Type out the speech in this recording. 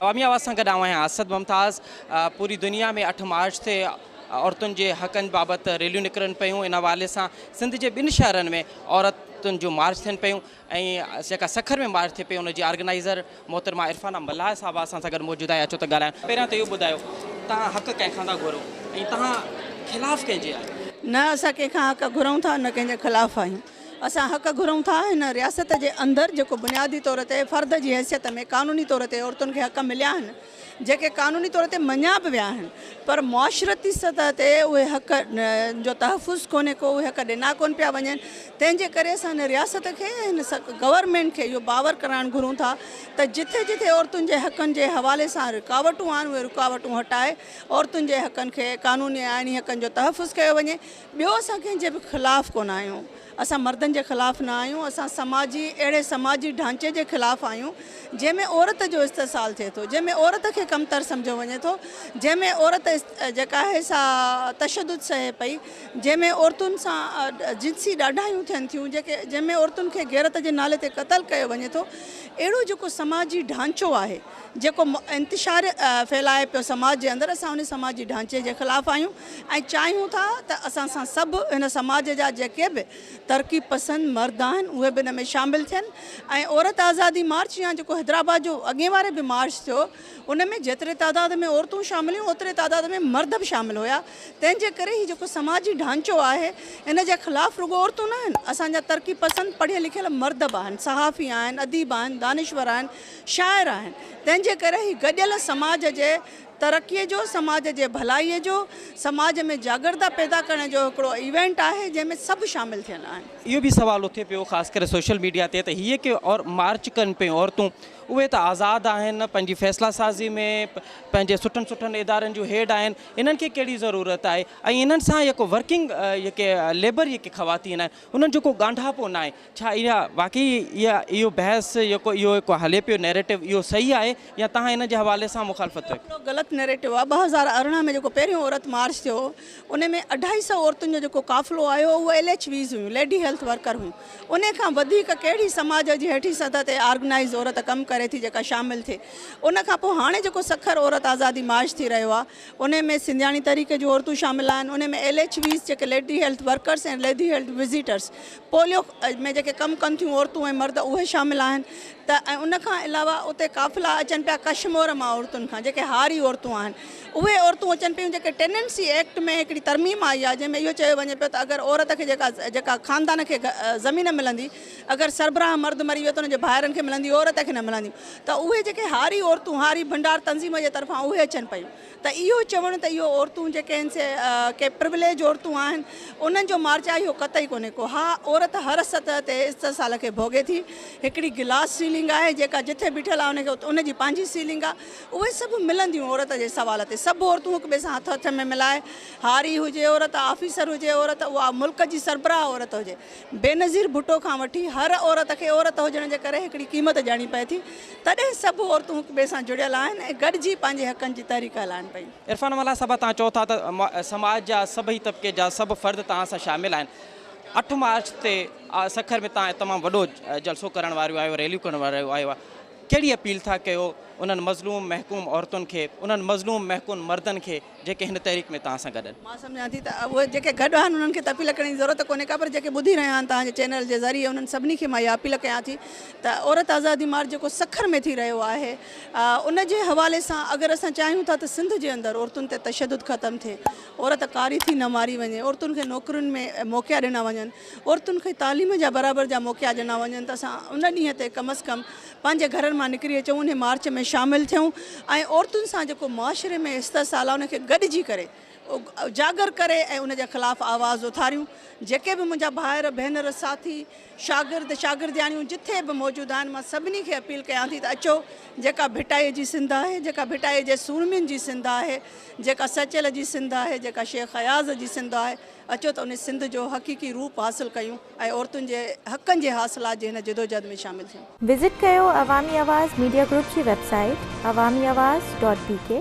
عوامي آواز سان گڏ آئون آهيان اسد ممتاز پوري دنيا ۾ اٺ مارچ تي عورتن جي حقن بابت ريليون نڪرن پيون ان حوالي سان سنڌ جي ٻن شهرن ۾ عورتن جون مارچ ٿين پيون ۽ جيڪا سکر ۾ مارچ ٿي پئي ان جي آرگنائزر محترمه عرفانه ملاح صاحبه اسان سان گڏ موجود آهي اچو ته ڳالهايون پهريان ته اهو ٻڌايو تهان حق ڪنهن کان ٿا گهرو ۽ تهان خلاف ڪنهن جي آهيو نه اسان ڪنهن کان حق گهرون ٿا نه ڪنهن جي خلاف آهيون اسان حق گهرون ٿا هن رياست جي اندر جيڪو بنيادي طور تي فرد جي حيثيت ۾ قانوني طور تي عورتن کي حق مليا آهن جيڪي قانوني طور تي مڃيا به ويا آهن پر معاشرتي سطح تي اهي حق جو تحفظ ڪونهي ڪو اهي حق ڏنا ڪون پيا وڃن تنهن جي ڪري اسان هن رياست کي هن گورنمينٽ کي اهو باور ڪرائڻ گهرون ٿا ته جتي جتي عورتن جي حقن جي حوالي سان رڪاوٽون آهن اهي رڪاوٽون هٽائي عورتن جي حقن کي قانوني آئيني حقن جو تحفظ ڪيو وڃي ٻيو اسان ڪنهن جي به خلاف ڪونه آهيون، اسان مردن جي خلاف نه آهيون، اسان سماجي اهڙي سماجي ڍانچي جي خلاف آهيون جنهن ۾ عورت جو استحصال ٿئي ٿو، جنهن ۾ عورت کي ڪمتر سمجهيو وڃي ٿو، جنهن ۾ عورت جيڪا آهي سا تشدد سهي پئي، جنهن ۾ عورتن سان جنسي ڏاڍايون ٿين ٿيون، جنهن ۾ عورتن کي غيرت جي نالي تي قتل ڪيو وڃي ٿو، اهڙو جيڪو سماجي ڍانچو آهي جيڪو انتشار ڦهلائي پيو سماج جي اندر اسان ان سماجي ڍانچي جي خلاف آهيون، ۽ چاهيون ٿا ته اسان سان سڀ هن سماج جا جيڪي به ترقي پسند مرد آهن اهي به ان ۾ شامل ٿين ۽ عورت آزادي مارچ يا جيڪو حيدرآباد جو اڳين واري به مارچ ٿيو ان ۾ جيتري تعداد ۾ عورتون شامل هيون اوتري تعداد ۾ مرد به شامل هيا تنهن جي ڪري هي جيڪو سماجي ڍانچو آهي ان جي خلاف رڳو عورتون نه آهن اسان جا ترقي پسند پڙهيل لکيل مرد به آهن صحافي آهن اديب آهن دانشور آهن شاعر آهن تنهن جي ڪري هي گڏيل سماج جي ترقيء جو، سماج جي ڀلائيء جو، سماج ۾ جاڳرتا پيدا ڪرڻ جو هڪڙو ايونٽ آهي جنهن ۾ سڀ شامل ٿيل آهن. اهو به سوال اٿي پيو خاص ڪري سوشل ميڊيا تي ته هي ڪي مارچ ڪن پيون عورتون اهي ته آزاد آهن پنهنجي فيصلا سازي ۾ پنهنجي سٺن سٺن ادارن جون هيڊ آهن انهن کي ڪهڙي ضرورت آهي ۽ انهن سان يڪو ورڪنگ يڪي ليبر يڪي خواتين آهن انهن جو ڪو ڳانڍاپو ناهي. ڇا اها واقعي اها اهو بحث يڪو اهو هڪ هلي پيو نيريٽو اهو صحيح آهي يا تهان ان جي حوالي سان مخالفت رکو. اهو غلط نيريٽو آهي ٻه هزار ارڙهن ۾ جيڪو پهريون عورت مارچ ٿيو ان ۾ اڍائي سئو عورتن جو جيڪو قافلو آيو اهو ايل ايڇ ويز هيون ليڊي هيلٿ ورڪر هيون ان کان وڌيڪ ڪهڙي سماج جي هيٺين سطح تي آرگنائيز عورت ڪم ڪري ٿي جيڪا شامل ٿئي ان کان پوء هاڻي جيڪو سکر عورت آزادي مارچ ٿي رهيو آهي انهي ۾ سنڌياڻي تحريڪ جون عورتون شامل آهن انهي ۾ ايل ايڇ ويز جيڪي lady health workers ۽ lady health visitors polio ۾ جيڪي ڪم ڪن ٿيون عورتون ۽ مرد اهي شامل آهن ته ۽ ان کان علاوه اتي قافلا اچن پيا ڪشمور مان عورتن کان جيڪي هاري عورتون آهن اهي عورتون اچن پيون جيڪي ٽيننسي ايڪٽ ۾ هڪڙي ترميم آئي آهي جنهن ۾ اهو چيو وڃي پيو ته اگر عورت کي جيڪا جيڪا خاندان کي زمين ملندي اگر سربراهه مرد مري ويو ته ان جي ڀائرن کي ملنديون عورت کي نه ملنديون ته اهي جيڪي هاري عورتون هاري ڀنڊار تنظيم جي طرفان اهي اچن پيون ته اهو چوڻ ته اهو عورتون جيڪي آهن سي ڪي پرويليج عورتون آهن انهن جو مارچ آهي اهو قطعي ڪونهي ڪو ها عورت هر سطح تي استحصال کي ڀوڳي ٿي هڪڙي گلاس سيلنگ آهي جيڪا جٿي بيٺل آهي ان کي ان جي پنهنجي سيلنگ آهي اهي سڀ ملنديون عورت جي سوال تي سڀ عورتون هڪ ٻئي سان هٿ هٿ ۾ ملائي هاري هجي عورت آفيسر هجي عورت اها ملڪ جي سربراهه عورت هجي بينظير ڀٽو کان وٺي هر عورت کي عورت هجڻ جي ڪري هڪڙي قيمت ڏيڻي پئي ٿي تڏهن سڀ عورتون هڪ ٻئي سان جڙيل آهن ۽ گڏجي پنهنجي حقن جي تحريڪ هلائن پيون. عرفان ملاح صاحب توهان چئو ٿا ته سماج جا سڀئي طبقي جا سڀ فرد توهان سان شامل آهن اٺ مارچ تي سکر ۾ توهان تمام وڏو جلسو ڪرڻ واريون آهيو ريليون ڪرڻ واريون آهيو ڪهڙي اپيل ٿا ڪيو انهن مظلوم محڪوم عورتن کي انهن مظلوم محڪوم مردن کي جيڪي هن تحريڪ ۾ توهان سان گڏ آهن. مان سمجهان ٿي ته اهي جيڪي گڏ آهن انهن کي ته اپيل ڪرڻ جي ضرورت ڪونهي ڪا پر جيڪي ٻڌي رهيا آهن توهان جي چينل جي ذريعي انهن سڀني کي مان اها اپيل ڪيان ٿي ته عورت آزادي مارچ جيڪو سکر ۾ ٿي رهيو آهي ان جي حوالي سان اگر اسان چاهيون ٿا ته سنڌ جي اندر عورتن تي تشدد ختم ٿئي عورت ڪاري ٿي نه ماري وڃي عورتن کي نوڪرين ۾ موقعا ڏنا وڃن عورتن کي تعليم جا برابر جا موقعا ڏنا وڃن ته اسان ان ڏينهن تي ڪم از ڪم پنهنجي گهرن مان نڪري اچون انهي مارچ ۾ شامل ٿيون ۽ عورتن سان جيڪو معاشري ۾ استحصال آهي ان کي گڏجي ڪري اجاگر ڪري ۽ ان جي خلاف آواز اٿاريون جيڪي به منهنجا ڀائر ڀينر ساٿي شاگرد شاگردياڻيون جٿي به موجود آهن مان سڀني کي اپيل ڪيان ٿي ته اچو جيڪا ڀٽائي جي سنڌ آهي جيڪا ڀٽائي جي سورمين جي سنڌ آهي جيڪا سچل جي سنڌ آهي جيڪا شيخ اياز جي سنڌ آهي اچو ته انهي سنڌ جو حقيقي روپ حاصل ڪيون. ۽ عورتن جي حقن جي حاصلات جي هن جدوجهد ۾ شامل ٿيون. وزٽ ڪيو عوامي آواز ميڊيا گروپ جي website Awami Awaz dot بي ڪي.